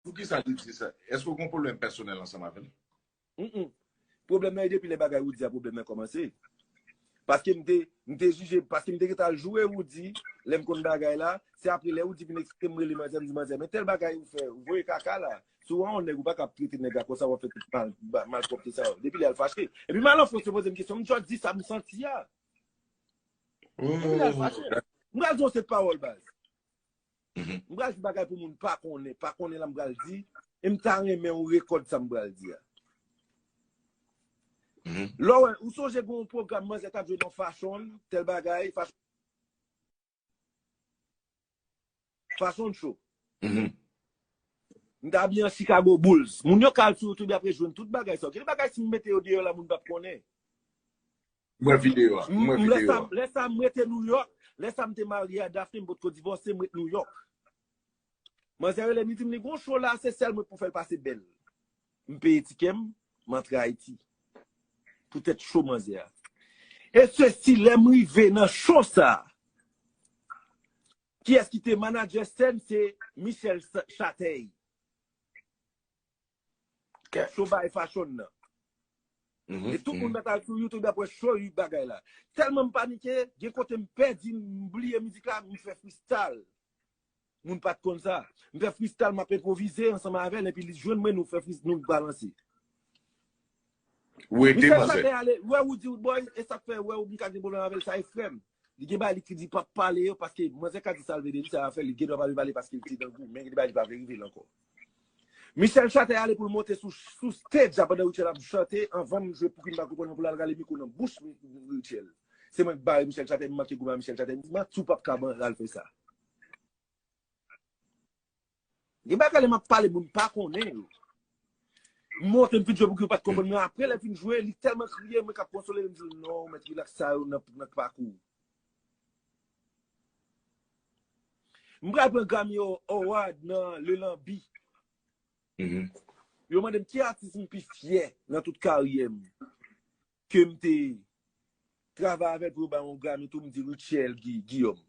Poukisa li di sa? Eske ou gen yon pwoblèm pèsonèl ansanm avè l? Mph. Pwoblèm nan e depi lè bagay Roody a pwoblèm nan kòmanse. Paske m te, m te jije, paske m te gentan al joure Roody, lè m konn bagay la, se apre lè Roody vin eksplike m rele manzè, m di manzè men tèl bagay ou fè, ou voye kaka la. Si w an on nèg ou pa ka ap trete nèg la konsa, w ap fè tout mal, malpwòpte sa yo. Depi lè a l fache. Epi m al an Frans yo poze m kesyon, m tjò di sa m santi a. Depi lè a l fache. M pral di on seri de pawòl baz. M pral di bagay pou moun pa konnen, pa konnen la m pral di, e m ta renmen ou rekòd sa m pral di a. Lè w wè, ou sonje gen yon pwogram manzè t ap jwe nan Fashion, tèl bagay, Fashion Show. M te abiye an Chicago Bulls. Moun yo ka al sou YouTube y ap rejwenn tout bagay sa. Gen de bagay si m mete yo deyò la moun p ap konnen. Mwen video a. Mwen video a. Lè sa, lè sa m rete New York. Lè sa m te marye a Daphne, m pot ko divòse, m rete New York. Manzè rele m, li di m li gon show la, se sèl mwen k pou fè l pase bèl. M peye tikè m, m antre Ayiti. Poutèt show manzè a. E se si lè m rive nan show sa, kiyès ki te manager sèn se Michel Chatey. Show by fashion nan. E tout moun met al sou youtube ap wè show ui bagay la. Telman m panike, gen kote m pèdi m bliye mizik la, m fè freestyle. Moun pat konn sa. M fè freestyle m ap enpwovize ansanm avèl epi li jwenn mwen nou fè freestyle nou balanse. Ou rete Michel manzè. Saben ale, wè ou di ou boy, e sak fè wè ou m ka gen pwoblèm avèl sa e frèm. Li gen bagay li ki di pap pale yo paske manzè ka di sal vle de li sa afèl li gen dwa pa vle pale paske li te dan gou men gen de bagay li pa vle rive l ankò. Michel Chatè ale pou l monte sou sou stage la pandan Rutshelle ap chante anvan m jwe pouki m pa konprann nan pou l al rale mikwo nan bouch Rutshelle. Se mwen k bare Michel Chatè m manke goumen a Michel Chatè m di m a tou pap ka ban l al fè sa. Gen bagay lè map pale moun pa konnen yo. M monte m fin jwe pou yo pat konprann men apre lè fin jwe li tèlman kriye mwen kap konsole li m di l non mèt relax sa yo nan pakou w. M pral pran Grammy Award nan Le Lanbi. Yo mande m ki atis m pi fyè nan tout karyè m ke m te travay avè l pou yo ba mwen yon Grammy tou m di Rutshelle Guillaume.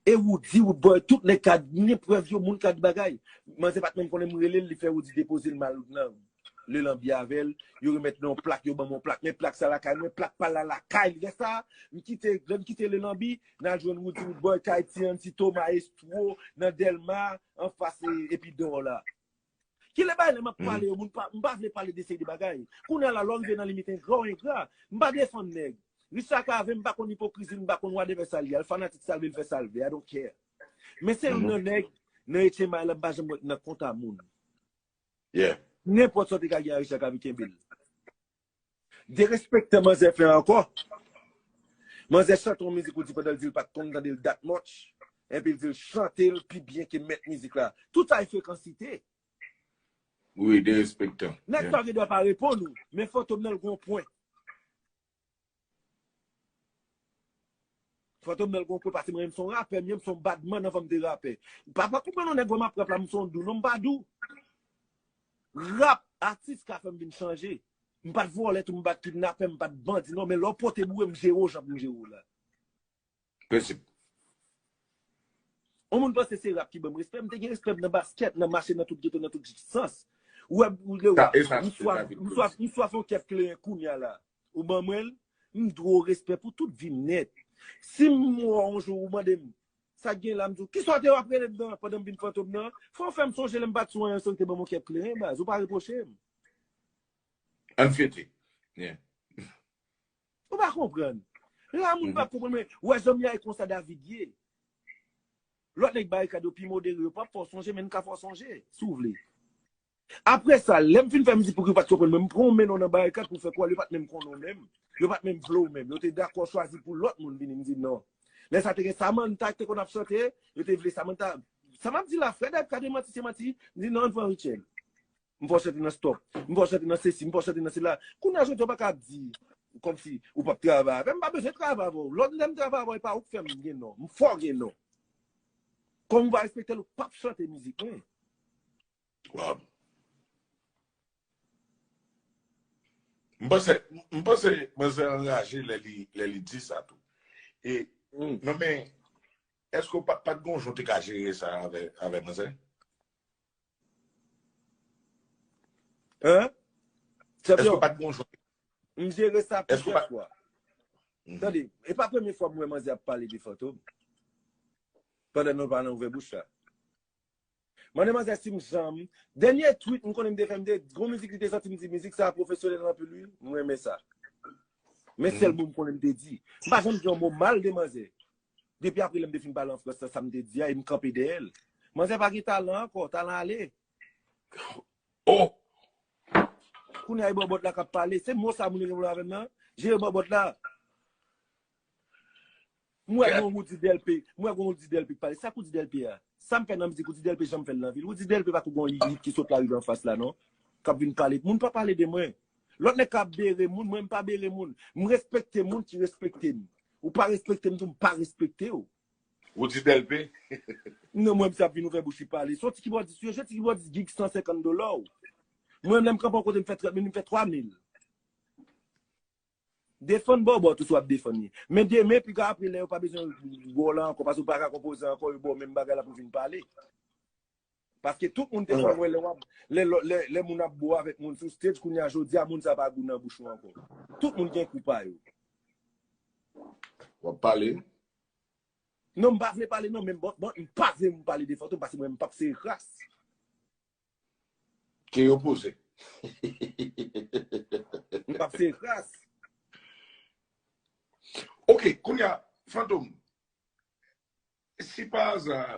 E Roody roodboy tout nèg ka gnyn prèv yo moun ka di bagay manzè pat menm konnen m relel li fè Roody depozel mal nan le lanbi avèl yo remèt mwen yon plak yo banm yon plak men plak sa lakay mwen plak pal la lakay li lè sa m kite lè m kite le lanbi nal jwenn Roody roodboy kay ti antito maestro nan delma anfas epi dor la. Kilè bagay lè map pale yo moun pa, m pa vle pale de seri de bagay. Kounya la lè w rive nan limit engra w engra. M pa defann nèg. Richard Cavé m pa konn ipokrizi l, m pa konn wadèvè sa l ye. L fanatik sa l vle l fè sa l vle, I don't care. Men se youn nan nèg nan etchenmay la m pa janm wè k nan kont a moun. Yeah. Nenpòt sa w te ka gen a Richard Cavé kenbe l. Derespektan manzè fè ankò. Manzè chante yon mizik ou di pandan l di l pat konn tande l dat much, enpi l di l chante l pi byen ke mèt mizik la. Tout sa e frekansite. Wi, derespektan. Nèg sa gen dwa pa reponn ou, men fantom nan l gon pwen. Fantom nan gon kwe pasem renmen m son rapè myem son bad man anvan m te rapè pa pa konprann yon nèg wèm ap rap la m son dou non m pa dou rap atis ka fèm vin chanje m pat vòlè tou m pat kidnapè m pat bandi non men lè w pote boure m jere w jan pou m jere w la. Prensip. On moun panse se rap ki banm respè, m te gen respè nan baskèt, nan mache nan tout geto, nan tout sans. Ou wè m lè ou m swaf on kèf kleren kounya la. Ou ban mwen l, m dwe w respè pou tout vi m nèt. Si m mò on jou ou mande m sa k gen la m di w kisa w te ap rele m nan pandan m vin fantom nan? Fò w fè m sonje lè m pat sou anyen san w te ban m on kèf kleren baz. Ou pa repwoche m. Ann fete. Ou pa konprann. La moun pa konprann men, wè zanmi a e konsa David ye. Lòt nèg barikad yo pi modere, yo pap fè w sonje men n ka fè w sonje, si w vle. Apre sa, lè m fin fè mizik pou ki yo pa t konprann mwen, m pran yon menw nan barikad pou fè kwè yo pa t menm konnen w menm, yo pa t menm vle w menm. Yo te dakò chwazi pou lòt moun vini, m di non. Lè sa te gen Samantha ki te konn ap chante, yo te vle Samantha. Sa m ap di la, frè David ka te manti, se manti, m di non, an n pran Rutshelle. M fè w chante nan stop. M fè w chante nan sesi, m fè w chante nan sila. Kounye a jodi a ou pa ka ap di kòmsi ou pap travay avè m. M pa bezwen travay avè w. Lòt lè m travay avè w e pa ou k fè m gen non. M fè w gen non. Kòm ou pa respekte l ou pap chante mizik mwen. Waww. M panse, m panse manzè anraje lè li, lè li di sa tou. E, non men, èske ou pa, pa t gen yon jan ou te ka jere sa avè, avè manzè? Hein? Eske ou pat gon jwè? M jere sa plizyè fwa. Tande, e pa premye fwa m wè manzè ap pale de Fantom. Pandan nou pa nan ouvè bouch la. Mande manzè si m janm, dènye tweet m konnen m te fè m te, gon mizik li te sòti m di mizik sa pwofesyonèl anpil wi, m renmen sa. Men sèl mo m konnen m te di. M pa janm di yon mo mal de manzè. Depi apre lè m te fin pale an Frans la sa m te di a e m kanpe dèyè l. Manzè pa gen talan ankò, talan ale. Oh! Kounye a e bòbòt la k ap pale. Se mo sa moun yo gen pou yo avè m nan? Je yo bòbòt la. M wè gen yon Roody Delpé, m wè gen yon Roody Delpé k pale. Sa k Roody Delpé a? Sa m fè nan mizik Roody Delpé jan m fè l nan vi l? Roody Delpé pa kou gen yon hit ki sot lari an fas la non. K ap vin pale. Moun pa pale de mwen. Lòt nèg ka ap bere moun, mwen m pa bere moun. M respekte moun ki respekte m. Ou pa respektem tou m pa respektew. Roody Delpé. Non mwen msap vin ouvè bouch li pale. Son ti kibòdis wi yo jwe ti kibòdis gig 150 dola w. Mwen menm lèm kanpe yon kote m fè 30 minit m fè 3 mil. Defann bòbòt ou si wap defann li. Men demen pi ka apre lè yo pa bezwen wè w la ankò paske w paka konpoze ankò yo ba w menm bagay la pou vin pale. Paske tout moun te konn wè lè wap, lè lò, lè, lè moun ap bo avèk moun sou stage, kounye a jodi a moun sa pa gou nan bouch ou ankò. Tout moun gen kou pa yo. Wap pale. Non m pa vle pale non men bon, bon m pa vle moun pale de Fantom paske mwen m pap sere kras. Ke yo poze. M pap sere kras. Ok, kounye a, Fantom, si pa aza,